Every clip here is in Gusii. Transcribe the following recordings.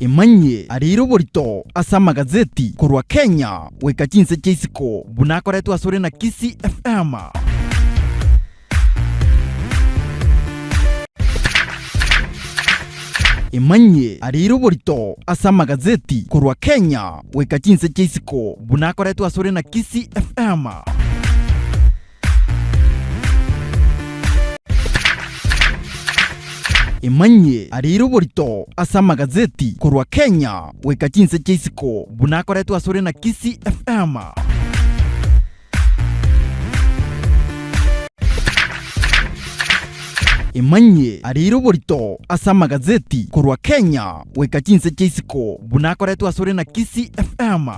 Emanyie arire oborito ase amagazeti korwa Kenya goika chinse chia isiko buna akoretwe asore na Kisii FM. Emanyie arire oborito ase amagazeti korwa Kenya goika chinse chia isiko buna akoretwe asore na Kisii FM. Emanyie aria ere oborito ase amagazeti korwa Kenya goika chinse chia isiko buna akoretwe asore na Kisii FM. Emanyie aria ere oborito ase amagazeti korwa Kenya goika chinse chia isiko buna akoretwe asore na Kisii FM.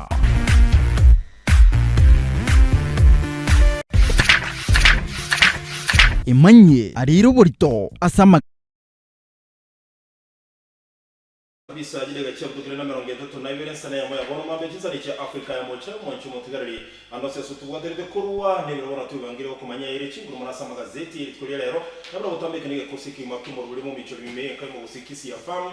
Emanyie arire oborito ase ama. Kabisa chideka chia gutira na emerongo etato na ibere nse neyemo ya bono mambe chinsani chia Africa ya mochie mwanchi omotigareri ande ase aso tobwaterete korwa nebiro bono twebangire gokomanya ere chinguru mono ase amagazeti erituko ria rero nabire gotambeke negekosi ekegima kemorwiri momichori mime ekaimo gose kisi ya farm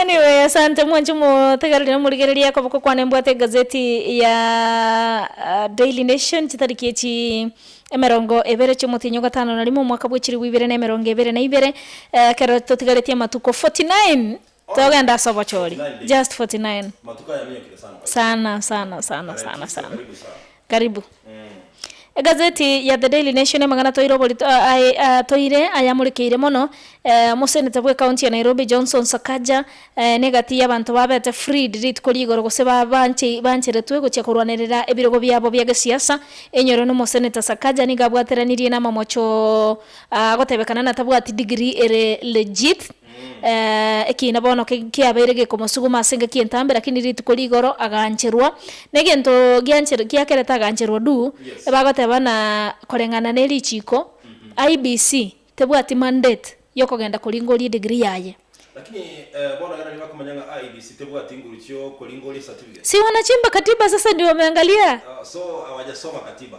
Anyway, asante mwanche motegereri morigereria akoboko kwane mbwate egazeti ya Daily Nation chitariki echi emerongo ebere chi'omotienyi ogatano na rimo omwaka bw'echiribu ibere na emerongo ebere na ibere. Ekero totigaretie amatuko 49 togenda ase obochori. Just 49. Sana sana sana sana sana. Karibu. Egazeti ya The Daily Nation amang'ana toire oborito aye atoire ayamurekeire mono, Omoseneta bwe county ya Nairobi Johnson Sakaja na egati y'abanto babete freed rituko rigoro gose ba banche bancheretwe gochia korwanerera ebirogo biabo bia gesiasa enyoro na Omoseneta Sakaja nigo abwateranirie na amamocho agotebekana natabwati degree ere legit. ekiina bono kiabeire gekomosuguma ase engaki y'entambe, rakini rituko rigoro agancherwa. Na egento giancher giakerete agancherwa duu, ebagoteba buna koreng'ana ne richiiko, IEBC tebwati mandate y'okogenda koringoria edegree yaye. Lakini bono ekero bakomanya ng'a IEBC tebwati nguru chi'okoringoria ecertificate. Siwana chimba katiba sasa ndio umeangalia. So hawajasoma katiba.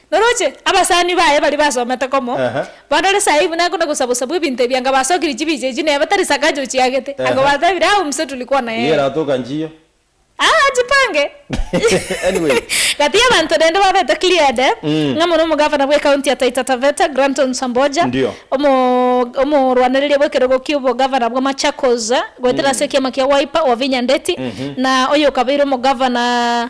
Noroche, abasani baye baria basomete komo, Ehe. barore saii buna akona gosabu-sabu ebinto ebi, anga basokire chibicha echio neye batari sakaja ochiagete, anga Ehe. batebire, Aa omusa turi kwana Iga yeye. eratoka nchiyo. Aa achipange. Anyway. Gati y'abanto rende babete Clear'de, Mm. ng'a mono omogavana bw'ecounty ya Taita Taveta, Granton Samboja, Ndio. omo omorwanereria bw'ekerogo ki'obogavana bwa Machakos goetera ase ekiama kia Wiper, Wavinya Ndeti, Mhm. na oyokabeire omogavana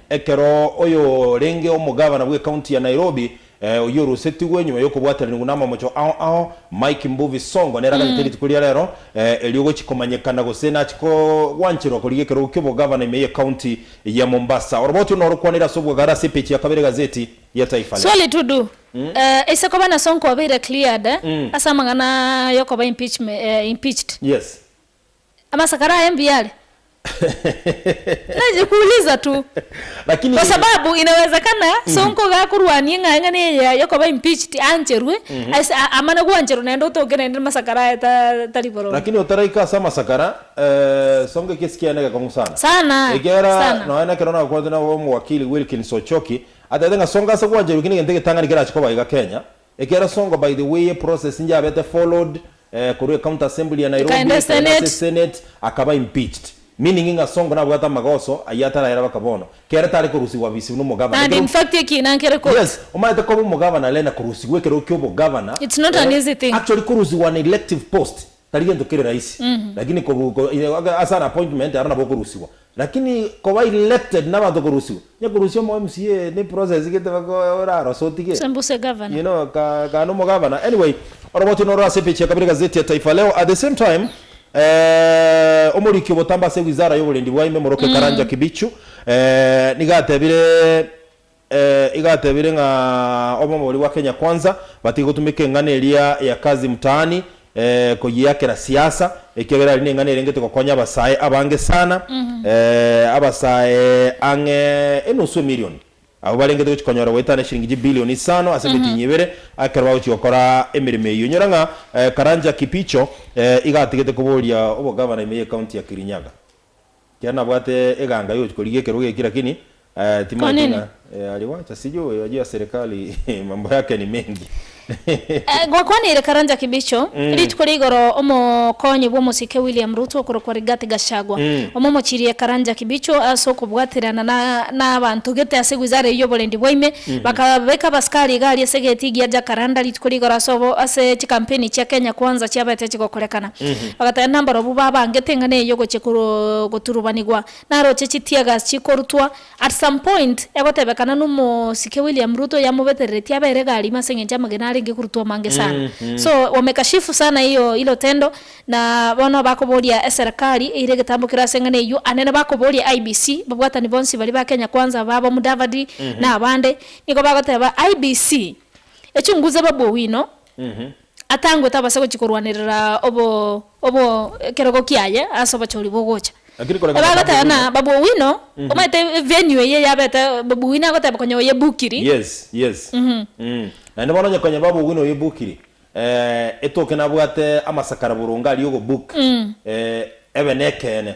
Ekero oyorenge omogavana bw'ekaunti ya Nairobi, oyorosetigwe nyuma y'okobwataranigwa n'amamocho ao ao, Mike Mbuvi Sonko, neraganete rituko ria rero erio gochia komanyekana gose nachia kogwancherwa korigia ekerogo ki'obogavana ime y'ekaunti ya Mombasa. Oroboti ono orokwanire ase obwagare ase epeji ya kabere egazeti ya Taifa Leo. Swali to do, Ase koba na Sonko obeire cleared ase amang'ana y'okoba impeached, Yes. Amasakara aye mbuya are? Najikuuliza tu. Lakini. Kwa sababu inawezekana sonko iga akorwania eng'aeng'ana eye yokoba impeached aancherwe ase amana gwancherwa naende otoke naende namasakara aye tari boronge. Lakini otaraika ase amasakara, sonko ekesi kiaye negekong'u sana. Sana. Ekiagera Sana. nonye nekero nakwanete na omowakili Wilkins Ochoki, atebete ng'a sonko ase gwancherwa ki negento egetang'ani kerache koba iga Kenya, Ekero songo by the way process njabete followed korwa e county assembly ya Nairobi Ekaenda ekaenda ase e senate. senate akaba impeached meaning ng'a songo nabwate amagoso ayio atarayera baka bono kere tare korusigwa bisibu no omogabana And ekero in fact ekiina nkere kobua. Yes, omaete koba omogabana rena korusigwa ekero kia obogabana It's not an eh, easy thing. actually korusigwa an elective post tari gento kere rahisi lakini kobu ko ase an appointment aro nabo okorusigwa Lakini koba elected nabanto korusiwa, onya korusia omo MCA ne process gete bako orarose otige. Sembuse Governor. You know ka ka no mo Governor. Anyway, oroboti noro ase page ya kabere gazeti ya Taifa Leo. At the same time, eh, omoriki obotambe ase wizara y'oborendi bwa ime, Moroke Karanja Kibichu, eh, nigo atebire, Ee, iga atebire ng'a omobori bwa Kenya Kwanza batige gotumeka eng'ana eria ya kazi mtaani ee koyiakera siasa, ekiagera aria neng'ana erengete gokonya abasae abange sana, ee abasae ang'e enusu emirioni abwo barengete gochi konyora goetana eshiringi chibilioni isano ase emitinyi ebere ekero bagochi gokora emeremo eyio. Inyora ng'a Karanja Kipicho ee iga atigete koboria obogavana ime ye county ya Kirinyaga. Ekiagera nabwate eganga yogochia korigia ekerogo eki lakini timaeti ng'a aliwacha sijui oyo ajia serikali mambo yake ni mengi. Gwakwanire Karanja Kibicho. Rituko ria igoro omokonyi bw'omosike William Ruto okorokwa Rigathi Gachagua omomochirie Karanja Kibicho ase okobwaterana na abanto gete ase wizara eye y'oborendi bwa ime bakabeka abasikari iga aria ase egeti gia Jacaranda rituko ria igoro ase chikampeni chia Kenya Kwanza chiabete chigokorekana. Bagateba nabarabwo babo ange te ng'ana eyio gochia goturubanigwa naroche chitiegas chikorutwa at some point egotebekana nomosike William Ruto yamobetereretie abere egari ime ase eng'encho amagena arenge korutwa amange sana so wamekashifu sana iyo ilo tendo na bono bakoboria eserekari eire egetambokero ase eng'ana eyio ande na bakoboria IEBC babwatani bonsi baria ba Kenya kwanza ababo Mudavadi na abande nigo bagoteba IEBC echunguze babu owino Atangwe tabasa gochia korwanerera obo obo ekerogo kiaye ase obochori bogocha. Lakini koreng'ana Eba Bob agoteba Owino. na Babu Owino, omanyete venue eye yabete Babu Owino agoteba konya oye bukiri. Yes yes mm naende bono onye konya Babu Owino oye bukiri eh etoke nabwate amasakara boronge aria ogo book eh ebe nekeene.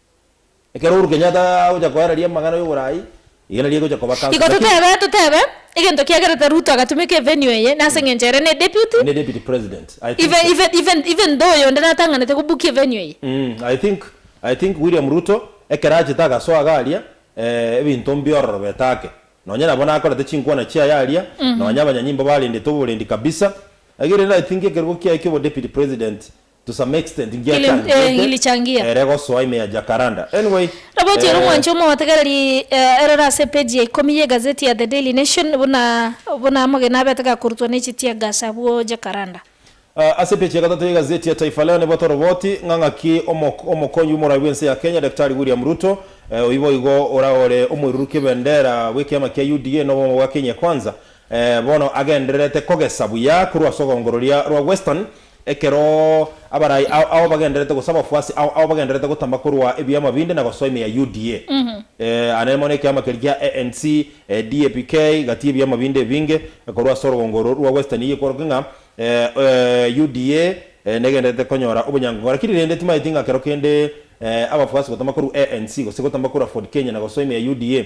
Ekero Uhuru Kenyatta agocha koereria amang'ana y'oboraai, iga nario egocha koba Council, Igo lakini. totebe, totebe, egento kiagerete Ruto agatumeka evenue eye nase engencho ere ne deputy, Ne Deputy President, I think even, so. even, even, even though oyonde natang'anete go book evenue eye. Mm, I think, I think William Ruto ekero achete agasoa iga aria, eh, ebinto mbiororobete ake. Nonye nabo nakorete chinkwana chiaye aria, nonye abanyanyimbo barendete oborendi kabisa, egere rero I think ekerogo kiaye ki'obo Deputy President, To some extent Kili- eh, ngiachangiete ngilichangia. ere gosoa ime ya Jacaranda. Anyway, Roboti ore eh, omwancho omotegereri eh, eroro ase epeji ya ikomi y'egazeti ya The Daily Nation buna buna amagena abete gakorutwa n'echi tia Gus abwo Jacaranda. Ah, ase epeji ya gatato y'egazeti ya Taifa Leo nigo toroboti ng'a ng'aki omok omokonyi bw'omoraai bw'ense ya Kenya Daktari William Ruto, eh, oyio boigo ora ore omoirurukia bendera bw'ekiama kia UDA na obomo bwa Kenya Kwanza, eh, bono agendererete kogesa buya korwa ase ogoongororia rwa Western Ekero abarai ao ao bagendererete gose abafuasi ao ao bagendererete gotama korwa ebiama binde na gosoa ime ya UDA, aa nere mono ekiama keria gia ANC, DAPK, gati ebiama binde ebinge korwa ase orogongo oro rwa Western eye kworoke ng'a UDA negendererete konyora obonyangongo. Rakini rende timaeti ng'a kero kende abafuasi gotama korwa ANC gose gotama korwa Ford Kenya na gosoa ime ya UDA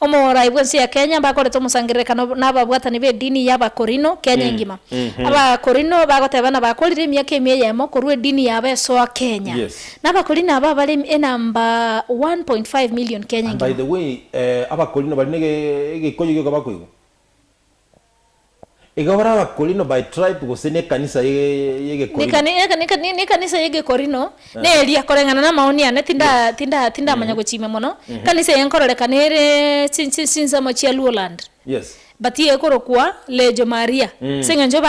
Omorai bw'ense ya Kenya mbakorete omosangererekano nababwatani b'edini y'Abakorino Kenya engima. Abakorino bagoteba nabakorire emiaka ime eyemo korwa edini yabo esoa Kenya. Yes. Nabakorino aba bare enamba 1.5 million Kenya And by engima. the way, eh, Abakorino bari nege egikoyo gioka bakoigwa. Iga bare Abakorino by tribe gose nekanisa y'Egekorino? Nekanisa y'Egekorino neria koreng'ana namaoni ane tindamanya gochimia mono. Ekanisa eye nkororeka nere chinsemo chia Luoland but ekorokwa Lejo Maria as'eng'encho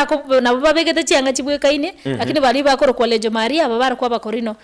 nabo babegete chianga chibwekaine lakini baria bakorokwa Lejo Maria aba barokwa Abakorino.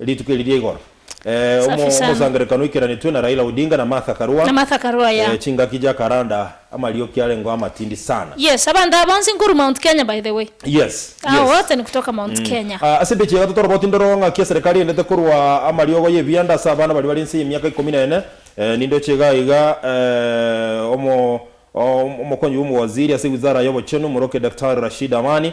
Rituko eri riaigoro Safi sana. omosangererekano oikeranetwe na Raila Odinga na Martha Karua. Na Martha Karua ya. Eh, chingaki ja Karanda amarioki arengo amatindi sana. Yes abanto aba bonsi nkoru Mount Kenya by the way. Yes, Hao yes. wote ni kutoka Mount Kenya. Ah, ase embeche ya gatato oroboti ndoro ng'aki eserekari erendete korwa amariogo y'ebianda ase abana baria bari ense y'emiaka ikomi na ene. Eh, nindoche iga iga eh, omo, o, omokonyi bw'omowaziri ase wizara y'obochenu, omorokia Daktari Rashid Amani,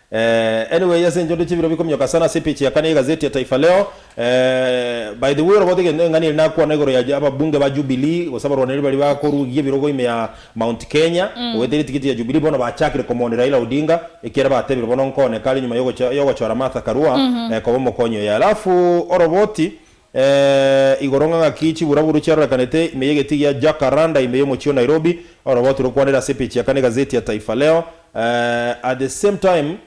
Eh, anyway ase enchendo chebiro bikomioka sana ase epage ya kane ye gazeti ya Taifa Leo. Eh, by the way orobote gento eng'ani ere nakwana igoro ya ababunge ba Jubilee gose abarwaneri baria bakorugia ebirogo ime ya Mount Kenya ogoetera etigiti ya Jubilee bono bachakire komooni Raila Odinga ekiagera batebire bono nkooneka are nyuma yogocha yogochora Martha Karua eh, koba omokonyi oye. Alafu oroboti Ee, igoro ng'a ng'aki chiburaburu chiarorekanete ime y'egeti gia Jacaranda ime y'omochie o Nairobi, orobooto rokwanera ase epeji ya kane egazeti ya Taifa Leo. Ee, at the same time,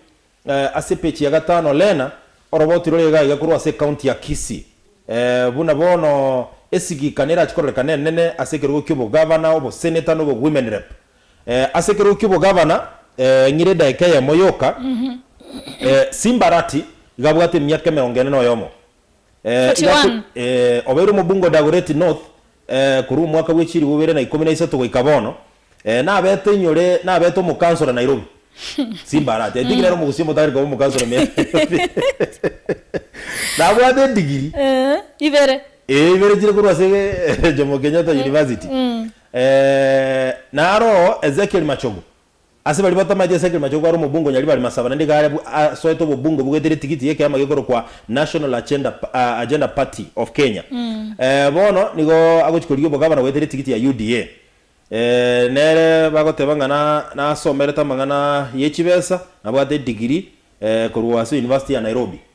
ee, ase epeji ya gatano rena orobooto rore iga iga korwa ase ekaunti ya Kisii. Ee, buna bono esigikano erache kororekana enene ase ekerogo ki'obogavana, oboseneta na obowomen rep. Ee, ase ekerogo ki'obogavana, ee, ng'ire edaika eyemo yoka, ee, Simbarati iga abwate emiaka emerongo ene na oyomo. eh, iga akwe, 41. eh, obeire omobunga o Dagoretti North, eh, korwa omwaka bwe chilifu bibere na ikomi na isato goika bono, eh, nabete inyore, nabete omokansora Nairobi. Simba arati, I think nere omogusii omotagete koba omokansora me Nairobi. Nabwate edigiri, Eh, ibere. eh, ibere chire korwa ase Jomo Kenyatta University. Eh, naro Ezekiel Machogu, Ase baria batamaete ase ekerema ch'okwara omobungo o Nyaribari Masaba naende Garebu asoete obobungo bogwetera etigiti y'ekeama gekorokwa National Agenda Agenda Party of Kenya. Bono nigo agochia korigia obogavana goetera etigiti ya UDA. Nere bagoteba ng'a na nasomerete amang'ana ye chibesa, nabwate edigiri korwa ase University ya Nairobi.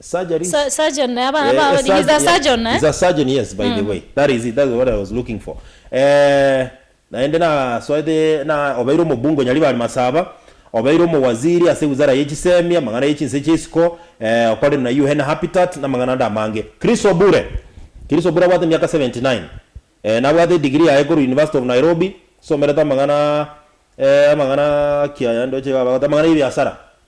Surgery Sa- surgeon, eh, abana ba- Eh, he's a surgeon, yeah. surgeon, eh? He's a surgeon, yes, by the way. That is it, that's what I was looking for. Eh, naende nasoete na obeire omobunge o Nyaribari Masaba, obeire omowaziri ase wizara ye chisemi, amang'ana ye chinse chia isiko, eh, okorire na UN Habitat, na amang'ana ande amange. Chris Obure, Chris Obure abwate emiaka 79. Eh, nabwate edegree yaye korwa University of Nairobi, somerete amang'ana, eh, amang'ana ki aya ndoche iga abagoteba, amang'ana ya ebiasara.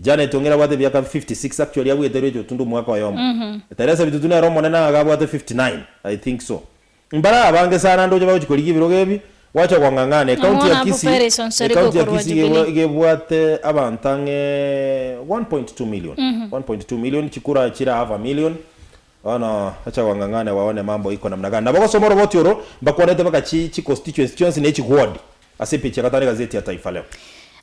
Janet onge nabwate ebiaka fifty six actually abwete Rachel Tundu omwaka oyomo. Teresa Bitutu nere omonene ng'a iga abwate fifty nine I think so. Mbare abange sana ndoche bagochi korigia ebirogo ebi gwacha kong'ang'ana. Ecounty Namang'ana ya abo Kisii Paris Onsorigo ecounty ya okorwa Kisii iga Jubilee. iga ebwate abanto ang'e one point two million one point two million chikura chire half a million. Bono acha gwang'ang'ana ewawa ne mambo iko namna gani? Nabo gosoma oroboti oro mbakwanete baka chi chi constituency chionsi ne chi guodi ase epeji ya gatano egazeti ya Taifa Leo.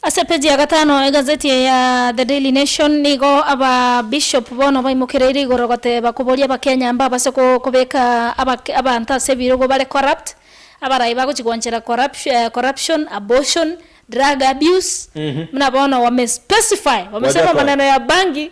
Ase epeji ya gatano egazeti eye ya The Daily Nation nigo aba Bishop bono baimokereire igoro goteba koboria Abakenya mbabase ko kobeka aba abanto ase ebirogo bare corrupt abarai bagochi goanchera corrupti eh corruption, abortion, drug abuse, buna bono wame specify wamesema maneno ya bangi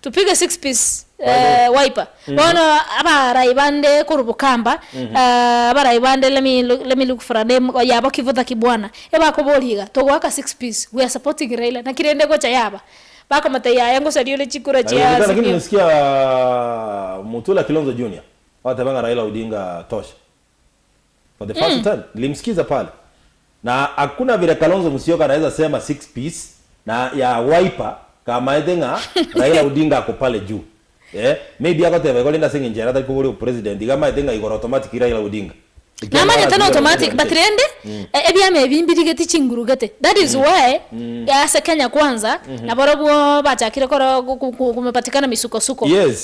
Tupige six piece wiper bono abarai bande korwa bukamba abarai bande let me look for a name oyo abo kivutha kibwana ebakoboria iga togoaka six piece we are supporting Raila naki rende egocha yaba bakomotebia yaya ngosaria ore chikura chia azimio. Nasikia Mutula Kilonzo Junior ogoteeba ng'a Raila Odinga tosha. For the first time nilimsikiza pale na hakuna vile Kalonzo Musyoka anaweza sema six piece na ya Wiper kamaete ng'a Raila Odinga ako pale juu eeh maybe agoteba igo rende ase eng'encho ere atari koba ore opresident iga amaete ng'a igoro automatic Raila Odinga ekiagera Namanyete na aragwire abanto automatic but baranchete rende e- ebiama ebi mbirigeti chinguru gete that is why ase Kenya Kwanza nabarobwo bachakire koro gu- gu- gu- kumepatikana misukosuko. Yes.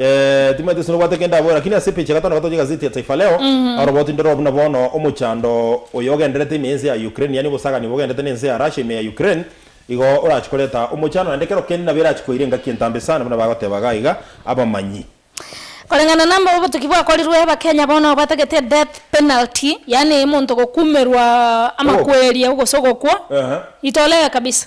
Eeh, timanyete ase nobwate kende abore, lakini ase epicha eye gatano gatoche egazeti ya Taifa Leo, aroboti ndore buna bono omochando oyo ogenderete ime y'ense ya Ukraine, yaani obosagani obo bogenderete n'ense ya Russia ime ya Ukraine, igo orache koreta omochando, naende ekero kende nabo erache koira engaki entambe sana buna bagoteba iga iga abamanyi. Koreng'ana na mbobe obotuki bwakorirwe Abakenya bono batagete death penalty yaani omonto gokumerwa Ogokwa. amakweri gose ogokwa Ehe. itolegeka kabisa.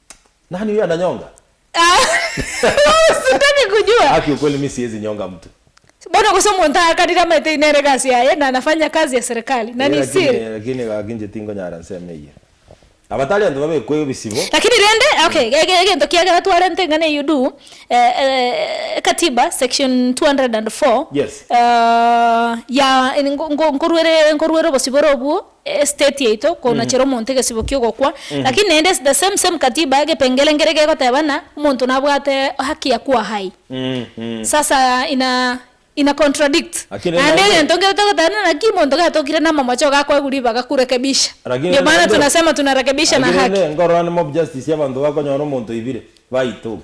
Nani huyo ananyonga? Sitaki kujua. Haki ukweli mi siezi nyonga mtu. Bono gose omonto aakanire amaete inere egasi yaye na anafanya kazi ya serikali na Ee, ni lakini siri. lakini gaki inche tingonyara nseme eyio. Abatari anto babekwe ebisibo. Lakini rende okay ge- ge- egento kiagera twarente eng'ana eyio du eh, eh, ekatiba section 204 Yes. eh, ya, in- ngo- ngo- nkoruere nkoruere obosibore obwo estate yaito konachera omonto egesibo ki'ogokwa, lakini naende the same same katiba egepengere nkere gegoteba ng'a omonto nabwate haki ya kwaha aye. Sasa ina ina contradict Lakini naende naende- egento nkere togoteba ng'a naki omonto gatokire na amamocho gakoegwa ribaga kurekebisha. Lakini Ndio maana naende- tunasema tunarekebisha na Lakini haki. naende nkorora ande mob justice y'abanto bakonyora omonto oibire, baitoke.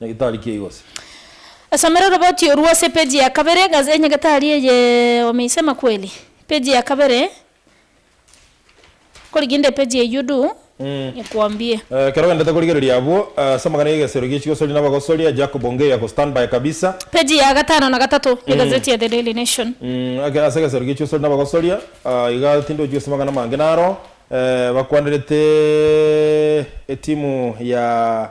Nyagetari ki aigose? Somera oroboti orwo ase epeji ya kabere, Ghazi e Nyagetari eye omeisema kweli? Epeji ya kabere, Korigia inde epeji eyio du, nyekoambie. Ekero ogendete korigereria abwo ase amang'ana y'egesero gie chigosori na abagosori, a Jacob onge ya gostand by kabisa. Peji ya gatano na gatato y'egazeti ya The Daily Nation. Ekero ase egesero gie chigosori na abagosori, iga tindi ochia gosoma amang'ana amange naro bakwanerete etimu ya.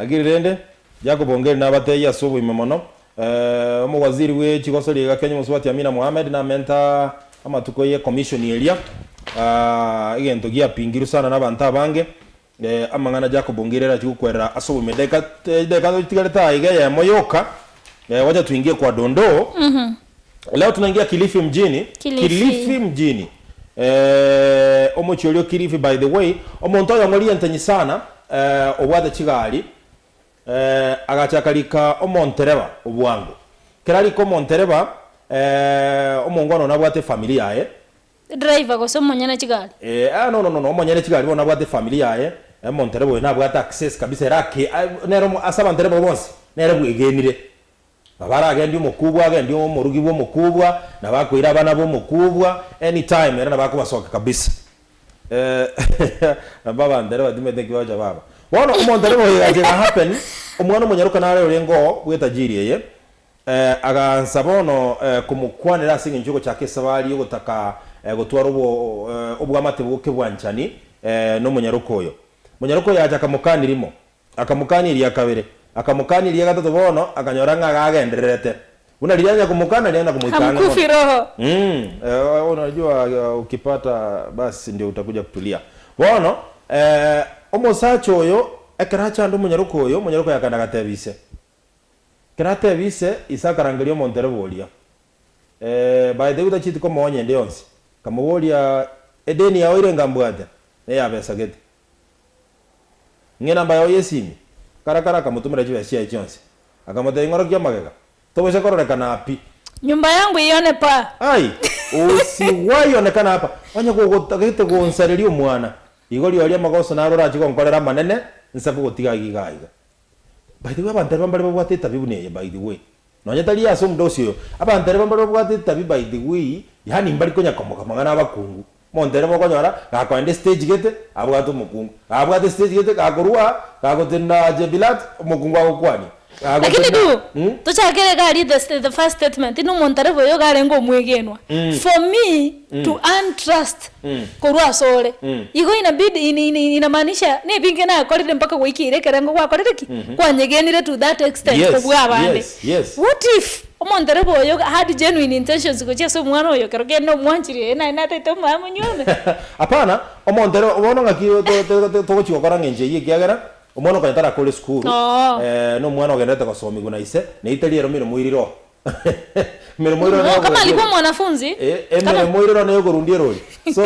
Agiri rende, Jacob Ongeri nabateyie ase oboime mono, Omowaziri bwe chigosori iga Kenya omosubati Amina Mohamed namenta amatuko ye commission eria, egento giapingirwe sana nabanto abange, amang'ana Jacob Ongeri arachie gokwerera ase oboime. Edageka etigarete aa iga eyemo yoka, gwacha tuingie kwa Dondoo. Leo tunaingia Kilifi mjini. Kilifi. Kilifi mjini. Eh, omochie oria o Kilifi by the way. Omonto oyong'o rientenyi sana eh, obwate chigari eh, agachaka rika omontereba obwango. Kera rika omontereba eh, omongwana one abwate efamiri yaye. Driver gose omonyene chigari? Eh, ah, no, no, no, no, omonyene chigari bono abwate efamiri yaye. Eh, omontereba oyo nabwate access kabisa ere ake, ah, nere omo, ase abantereba bonsi nere bwegenire. Nabo aragendie omokubwa, agendie omorugi bw'omokubwa, nabo akoira abana b'omokubwa any time ere nabo akobasokia kabisa. Nabo abanto ere batimete nki bagocha baba. Bono omonto ere boigo agacha ega happen, omwana omonyaroka nare oria ngo bw'etajiri eye, agaansa bono komokwanera ase engencho y'ogochaka esabari y'ogotaka gotwara obo obwamate bw'okebwanchani nomonyaroka oyo. Monyaroka oyo agacha akamokania rimo, Akamokania eria kabere, akamokania eria gatato bono akanyora ng'a iga agendererete. Buna riria anya komoka nario anya komoika ang'e mono. Hamkufi roho. Umm eeh unajua ukipata basi ndio utakuja kutulia. Bono eeh omosacha oyo ekero achande omonyaroka oyo, omonyaroka oyo akaenda agatebia ise. Ekero atebia ise, ise akarangeria omonto ere boria. Eeh baete gwe tachieti komoonya ende yonsi. Akamoboria edeni yao ere enga mbwate, neyabesa gete. Ng'ina mbaye oye Simi. Karakara akamotumera chibesa chiaye chionsi. Akamotebia, Ing'orokia amagega. Togocha kororekana aa pi. Nyumba yangu iyonekwa aa. Ai, usi gwayonekana apa, onye kogotagete gonsareria omwana, igo rirorio amagoso naro orachie gonkorera amanene, nsa kogotiga aiga iga aiga. By the way, abanto aba mbare babwate etabi buna eye, by the way. Nonya tari ase omodaosi oyo. Abanto ere aba mbare babwate etabi, by the way, yaani mbari konya komoka amang'ana 'abakungu. Monto ere bokonyora, gakoenda estage gete, abwate omokungu. Gabwate estage gete, gakorua, gagotenena Jebilat, omokungu agokwania. Lakini Gagotenena, du, mm. tochakere gari the, the first statement, nomonto are boyo garenge omwegenwa. For me, to earn trust korwa ase ore. Igo inabidi in, in, in, inamaanisha nebinge nakorire mpaka goikera ekerengo gwakorire ki? Kwanyegenire to that extent Yes, kobua abande. yes, yes. What if omonto ere boyo iga had genuine intentions gochia ase omwana oyo ekero kende omwanchire eye naye nataete omonyene monyuome? Hapana, omonto ere bono ng'aki to- to- to- to- togochia gokora ng'encho eyio ekiagera omwana okonywa tarakore esukuru, Oo. eh, nomwana ogendererete gosomigwa na ise, na eita riaye eromire moiri roho. Emeremo ere one Oka y'okorundia malikwa erori. mwanafunzi. E- Kama. Emeremo ere one y'okorundia erori. So,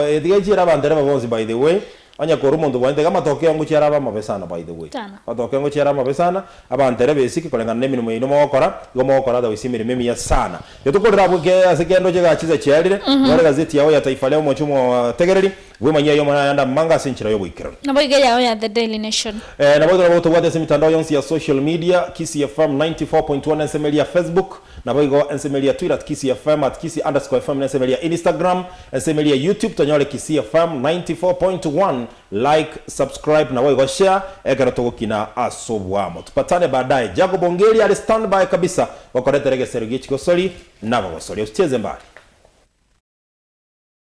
etiga nchiere abantereba bonsi by the way. Onye korwa omonto bwane tiga amatokeo ngochia arabe amabe sana by the way. Sana. Amatokeo ngochia arabe amabe sana. Abanterebe esike koreng'ana nemeremo yaino mogokora, igo mogokora otherwise emeremo emiya sana. Ntokorera abwo ke ase kende oche egasi esachiarire, nyora egazeti yao ya Taifa Leo moche omotegereri, Bwemanyia aye omonyene naende amang'e ase enchera y'oboikeranu. Nabo iga yao ya The Daily Nation. Ee, nabo igo nabo gotobwate ase emitandao yonsi ya social media, Kisii FM 94.1 na ensemo eria ya Facebook, nabo igo ensemo eria ya Twitter at Kisii FM, at Kisii underscore FM na ensemo eria ya Instagram, ensemo eria ya YouTube tonyore Kisii FM 94.1, like, subscribe nabo igo share ekero togokina ase obwamo. Tupatane baadaye. Jacob Ongeri are standby kabisa gokoretera egesero gie chigosori na abagosoria. Usicheze mbali.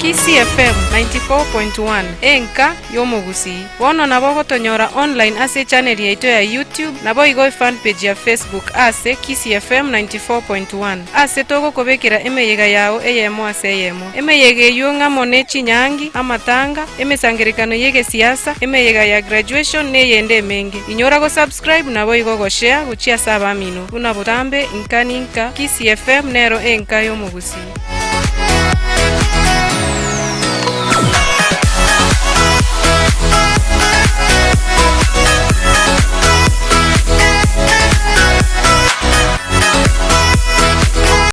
Kisii FM 94.1 enka y'omogusii. Bono nabo ogotonyora online ase echaneri yaito ya YouTube, naboigo efan page ya Facebook aase Kisii FM 94.1. Aase togokobekera emeyega yao eyemo ase eyemo. Emeyega eyio ng'amo ne chinyangi, amatanga, emesangerekano y'egesiasa, emeyega ya graduation na eyende emenge. Inyora go subscribe. Scribe naboigo gochia, gochia ase abamino, buna botambe, inka ninka, Kisii FM nero enka y'omogusii.